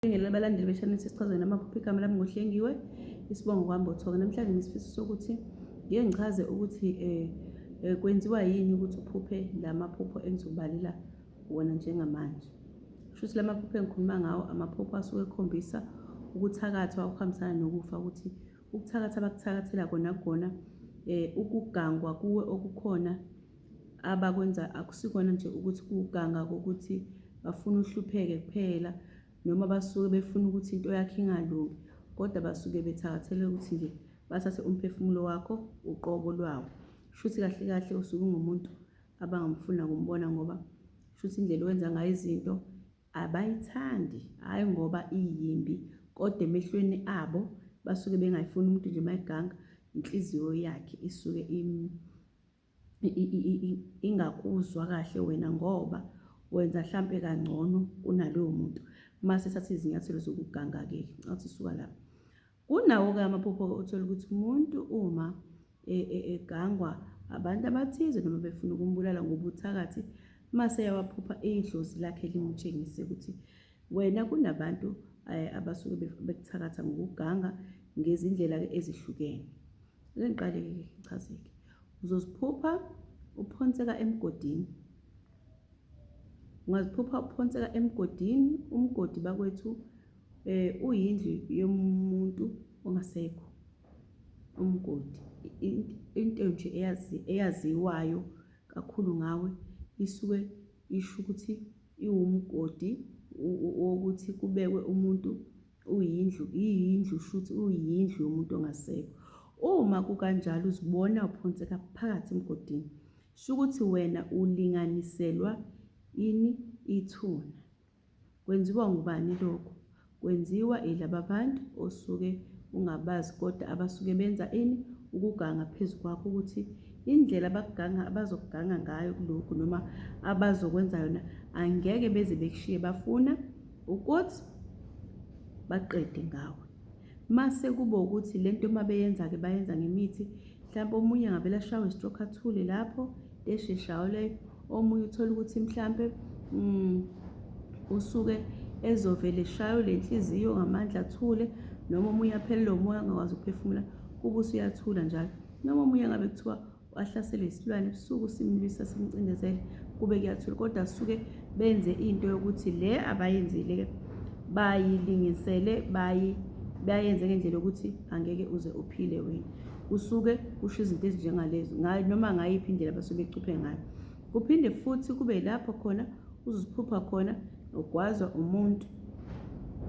Ngibingelele abalandeli be-channel sesichazwe namaphupho igama lami ngohlengiwe isibongo kwambothoka namhlanje ngisifiso sokuthi ngike ngichaze ukuthi eh, eh kwenziwa yini ukuthi uphuphe lamaphupho engizobalela wona njengamanje shuthi lamaphupho engikhuluma ngawo amaphupho asuke ekhombisa ukuthakathwa okuhambisana nokufa ukuthi ukuthakatha abakuthakathela kona kona eh ukugangwa kuwe okukhona abakwenza akusikona nje ukuthi kuwuganga kokuthi bafuna uhlupheke kuphela noma basuke befuna ukuthi into yakhe ingalungi kodwa basuke bethakathele ukuthi nje bathathe umphefumulo wakho uqobo lwawo shuthi kahle kahle usuke ungumuntu abangamfuna kumbona ngoba shuthi indlela owenza ngayo izinto abayithandi hhayi ngoba iyimbi kodwa emehlweni abo basuke bengayifuni umuntu nje mayiganga inhliziyo yakhe isuke ingakuzwa kahle wena ngoba wenza hlampe kangcono kunaloyo muntu mase thatha izinyathelo zokuganga-ke athi suka lapho kunawo-ke amaphupho othola ukuthi umuntu uma e, e, egangwa abantu abathize noma befuna ukumbulala ngobuthakathi mase yawaphupha idlozi lakhe limutshengise ukuthi wena kunabantu eh, abasuke bekuthakatha ngokuganga ngezindlela-ke ezihlukene Ake ngiqale-ke ngichazeke. Uzoziphupha uphonseka emgodini. Ungaziphupha uphonseka emgodini, umgodi bakwethu eh uyindlu yomuntu ongasekho. Umgodi into nje eyazi eyaziwayo kakhulu ngawe isuke isho ukuthi iwumgodi wokuthi kubekwe umuntu uyindlu iyindlu shuthi uyindlu yomuntu ongasekho uma kukanjalo uzibona uphonseka phakathi emgodini shukuthi wena ulinganiselwa ini ithuna kwenziwa ngubani lokho kwenziwa ilaba bantu osuke ungabazi kodwa abasuke benza ini ukuganga phezu kwakho ukuthi indlela abakuganga abazokuganga ngayo kulokhu noma abazokwenza yona angeke beze bekushiye bafuna ukuthi baqede ngawe mase kuba ukuthi lento uma beyenza ke bayenza ngemithi mhlawumbe omunye ngavele ashawe stroke athule lapho esheshayo leyo omunye uthola ukuthi mhlawumbe mm, usuke ezovele eshayo le nhliziyo ngamandla athule noma omunye aphelele umoya angakwazi ukuphefumula kuba usuyathula njalo noma omunye ngabe kuthiwa wahlaselwa isilwane ebusuku simlwisa simcindezele kube kuyathula kodwa suke benze into yokuthi le abayenzile ke bayilingisele bayi bayenze ngendlela yokuthi angeke uze uphile wena kusuke kusho izinto ezinjengalezo noma ngayiphi indlela basuke becuphe ngayo kuphinde futhi kube lapho khona uziphupha khona ugwazwa umuntu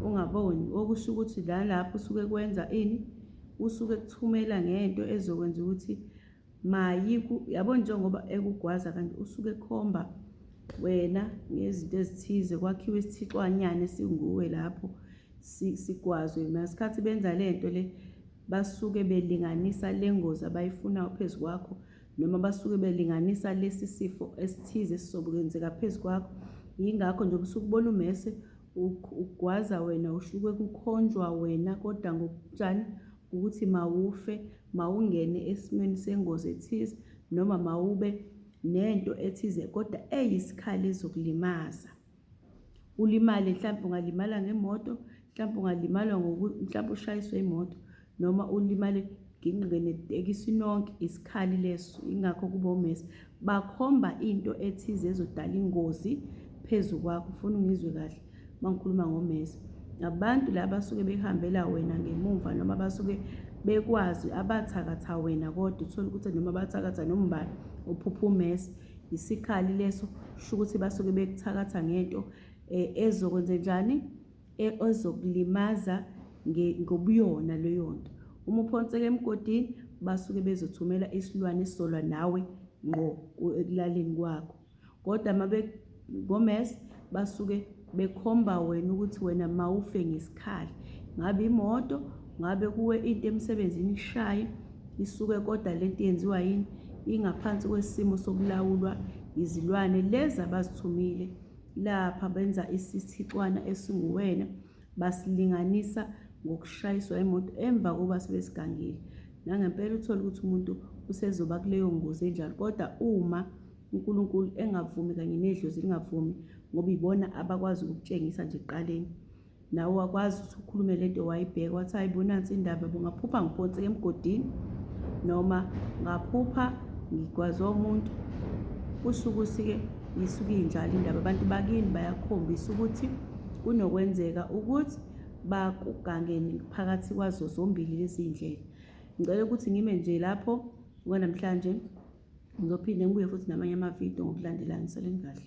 ungaboni okusho ukuthi la lapho usuke kwenza ini usuke ekuthumela ngento ezokwenza ukuthi mayi yabo njengoba ekugwaza kanti usuke ekhomba wena ngezinto ezithize kwakhiwe isithixwanyana esinguwe lapho sigwazwe nasikhathi benza le nto le basuke belinganisa le ngozi abayifunayo phezu kwakho noma basuke belinganisa lesi sifo esithize esizokwenzeka phezu kwakho yingakho nje usuke ubona umese ugwaza wena usuke kukhonjwa wena kodwa ngokutshani ukuthi mawufe mawungene esimweni sengozi ethize noma mawube nento ethize kodwa eyisikhali ezokulimaza ulimale mhlawumbe ungalimala ngemoto mhlawumbe ungalimala ngoku mhlawumbe ushayiswe imoto noma ulimale ginqike netekisi nonke isikhali leso ingakho kuba umesi bakhomba into ethize ezodala ingozi phezu kwakho ufuna ungizwe kahle uma ngikhuluma ngomesi abantu la basuke behambela wena ngemuva noma basuke bekwazi abathakatha wena kodwa uthole ukuthi noma bathakatha nombani uphupha umesi isikhali leso sho ukuthi basuke bekuthakatha ngento um ezokwenze njani e, ezokulimaza ngobuyona leyo nto. Uma uphonseka emgodini basuke bezothumela isilwane esizola nawe ngqo ekulaleni kwakho kodwa uma be-gomes basuke bekhomba wena ukuthi wena mawufe ngesikhali ngabe imoto ngabe kuwe into emsebenzini ishaye isuke kodwa le nto yenziwa yini ingaphansi kwesimo sokulawulwa izilwane lezi abazithumile Lapha benza isithixwana esinguwena, basilinganisa ngokushayiswa imoto emva kokuba sebesigangile. Nangempela uthole ukuthi umuntu usezoba kuleyo ngozi enjalo, kodwa uma uNkulunkulu engavumi kanye nedlozi lingavumi, ngoba ibona abakwazi ukukutshengisa nje ekuqaleni. nawe wakwazi ukuthi ukhulume le nto wayibheka wathi hayi bo nansi indaba bo ngaphupha ngiphonseke emgodini noma ngaphupha ngigwazwa umuntu kusho ukuthi-ke yisuke injalo indaba abantu bakini bayakhombisa ukuthi kunokwenzeka ukuthi bakugange phakathi kwazo zombili lezi ndlela ngicela ukuthi ngime nje lapho kwanamhlanje ngizophinde ngibuye futhi namanye amavidiyo ngokulandelana seleni kahle